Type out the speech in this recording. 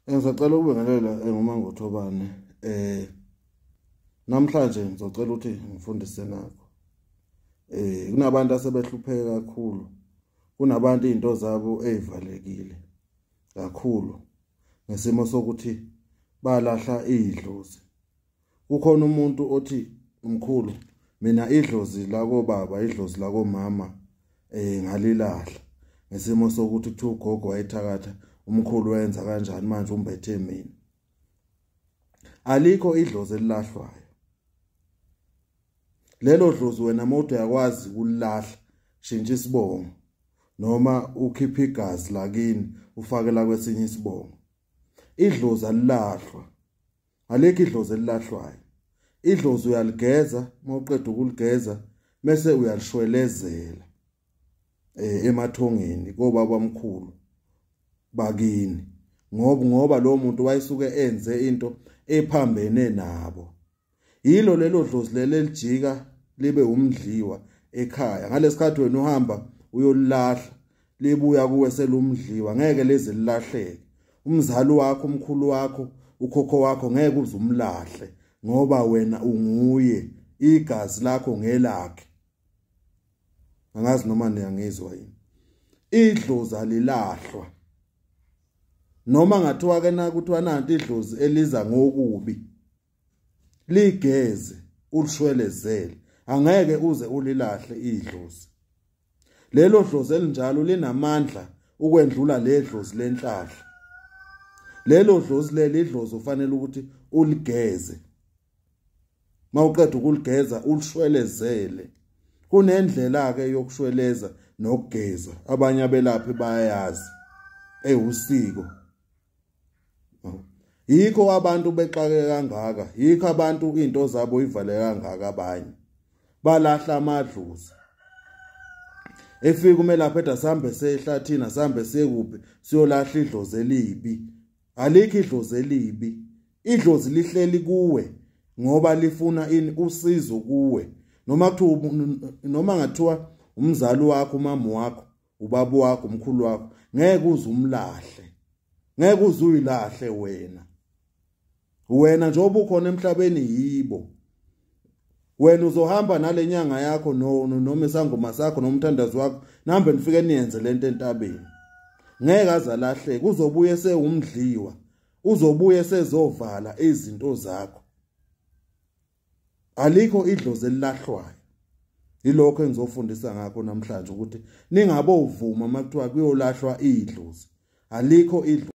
Ngisacela ukubingelela eh, nguMangothobane eh namhlanje ngizocela ukuthi ngifundise nakho eh kunabantu asebehlupheke kakhulu kunabantu izinto zabo ezivalekile kakhulu ngesimo sokuthi balahla idlozi kukhona umuntu othi umkhulu mina idlozi lako baba idlozi lako mama eh ngalilahla ngesimo sokuthi kuthiwa ugogo wayethakatha umkhulu wenza kanjani manje umbethe mina alikho idlozi elilahlwayo lelo dlozi wena moto yakwazi kulahla shintsha isibongo noma ukhipha igazi lakini ufake la kwesinye isibongo idlozi alilahlwa Alikho idlozi elilahlwayo. Idlozi uyaligeza mawuqeda ukuligeza bese uyalishwelezela eh emathongeni kobaba omkhulu bakini ngoba ngoba lo muntu wayesuke enze into ephambene nabo yilo lelo dlozi lelo elijika libe umdliwa ekhaya ngalesikhathi wena uhamba uyolahla libuya kuwe selumdliwa ngeke leze lilahleke umzali wakho umkhulu wakho ukhokho wakho ngeke uze umlahle ngoba wena unguye igazi lakho ngelakhe angazi noma niyangizwa yini idlozi alilahlwa noma ngathiwa ke na kuthiwa nanti idlozi eliza ngokubi ligeze ulishwelezele angeke uze ulilahle idlozi Lelo dlozi elinjalo linamandla ukwendlula ledlozi lenhlahla. Lelo dlozi leli idlozi ufanele ukuthi uligeze. Mawuqeda ukuligeza ulishwelezele. Kunendlela ke yokushweleza nokugeza abanye abelaphi bayayazi. Ewusiko. yikho abantu bexake kangaka yikho abantu into zabo ivale kangaka abanye balahla amadluzi efika umela phetha sambe sehlathina sambe sekuphi siyolahla idlozi elibi alikho idlozi elibi idlozi lihleli kuwe ngoba lifuna ini usizo kuwe noma kuthiwa noma ngathiwa umzali wakho umama wakho ubaba wakho umkhulu wakho ngeke uze umlahle ngeke uze uyilahle wena wena njengoba ukhona emhlabeni yibo wena uzohamba nale nyanga yakho noma isangoma sakho nomthandazi wakho nihambe nifike niyenze le nto entabeni ngeke azalahleke kuzobuye sewumdliwa uzobuye sezovala izinto zakho alikho idlozi elilahlwayo yilokho engizofundisa ngakho namhlanje ukuthi ningabovuma uma kuthiwa kuyolahlwa idlozi alikho idlozi